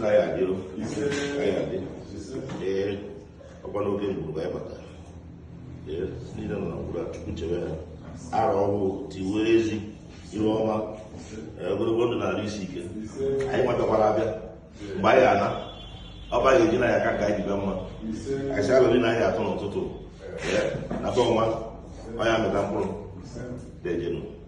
na ya adị o anyị adị ee ọkwa n'oge mgburu ka anyị bata ee niile nọ na mgburu a chukwu chebe ha arọ ọhụụ tiwe ezi ihu ọma ee, ogologo ndụ na arụ isi ike anyị nwatakwara abịa mgbe anyị ana ọ bụ anyị eji na ya aka ka anyị jibe mma anyị si alụrị na anyị atọ n'ụtụtụ ee, na be ọnwa ọ ya mịta mkpụrụ dejenu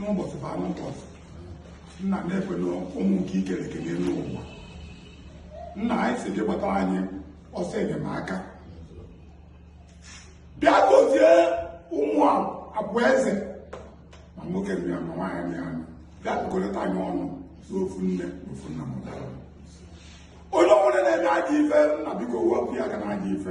n'ụbọchị bụ anụ ụbọchị nna neekene ụmụ nke i kere eke n'elu ụwa nna anyị si gị gbata anyị ọsọ enyemaka bịa gozie ụmụ abụọ eze ma nwoke nri ya ma nwaanyị nri ya bịa dukọrịta anyị ọnụ n'ofu nne n'ofu nna m onye ọbụla na-eme ajọ ife nna biko wepụ ya aka n'ajọ ife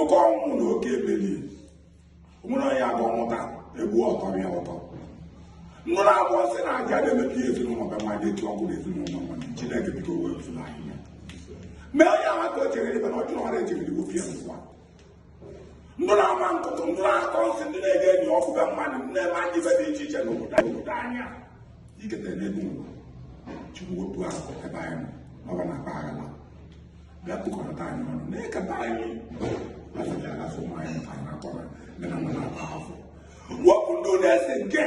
oke ọnwụ na oke ebeli nwere onye aga ọmụta egbu ọtọ ya ụtọ nwere abụọ sị na aja na-emepe ihe ezinụlọ be ma dị etu ọkụ na ezinụlọ nwa chineke biko wepụrụ anyị ya mee onye ahụ ka o chere ebe na ọ jụrụ ọrụ ejiri igbo pịa n'ụwa ndị na-ama nkụtụ ndị na-akọ nsị ndị na-ege enyi ọkụ be mmadụ ndị na-eme anyị ife dị iche iche n'obodo anyị obodo anya iketa n'ebe ụwa chukwu wepụ ahụ ebe anyị nọ n'ọba na akpa aghara bịa kpụkọrọta anyị ọnụ na-eketa anyị afọdụ afọ ụmụ anyị mụtara na akọrọ ndị na nwere akpa afọ wepụ ndị ọ na-ese nke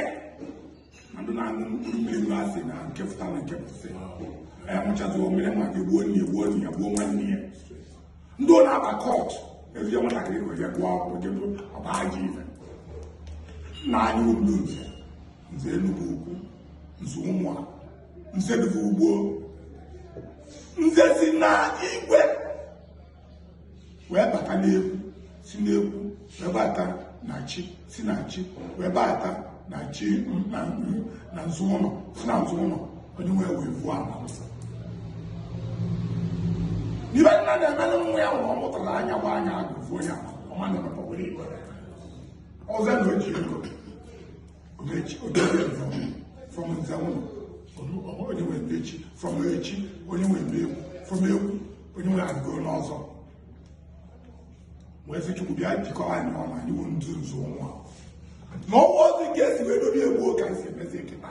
na ndị na-aṅụ mkpụrụ mmiri nwa asị na nke fụta na nke fụsị ya ṅụchazi omere ma gị gbuo nne gbuo nne ya gbuo nwanne ya ndị ọ na-aba cult ezie nwatakịrị ka ya gụọ akwụkwọ jebe ọ ba ajọ ife nna anyị ụlọ nze nze enugwu ukwu nze ụmụ a nze Duvu ugbo nze si na igwe wee bata n'egwu si n'egwu wee bata na chi si na chi wee bata na chi na nzu ụlọ si na nzu ụlọ onye nwee wee vuo ama ife nna na-emelụ nwa ya nwụrụ ọ mụtara anya gba anya agụvuo ya ọma na-emepọgoro igwe ọzọ na o ji ego Ogechi Ogechi from Nzanwụ onye nwe ndị echi from echi onye nwe ndị egwu from egwu onye nwe agụgo n'ọzọ wee sị Chukwu bịa jikọọ anyị ọnụ anyị bụ ndị nzu nwa na ọnwa ọzọ nke esi wee dobe egwu ka esi emezi nkịta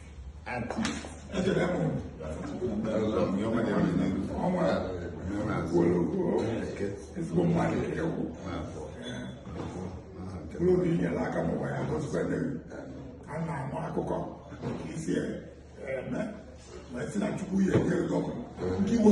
ezigbo mmadụ nke ukwu mkpụrụ obi nyere aka n'ụwa ya gozikwana a na-anụ akụkọ i si eme ma si na chukwu ya ekwe gọọmenti nke iwe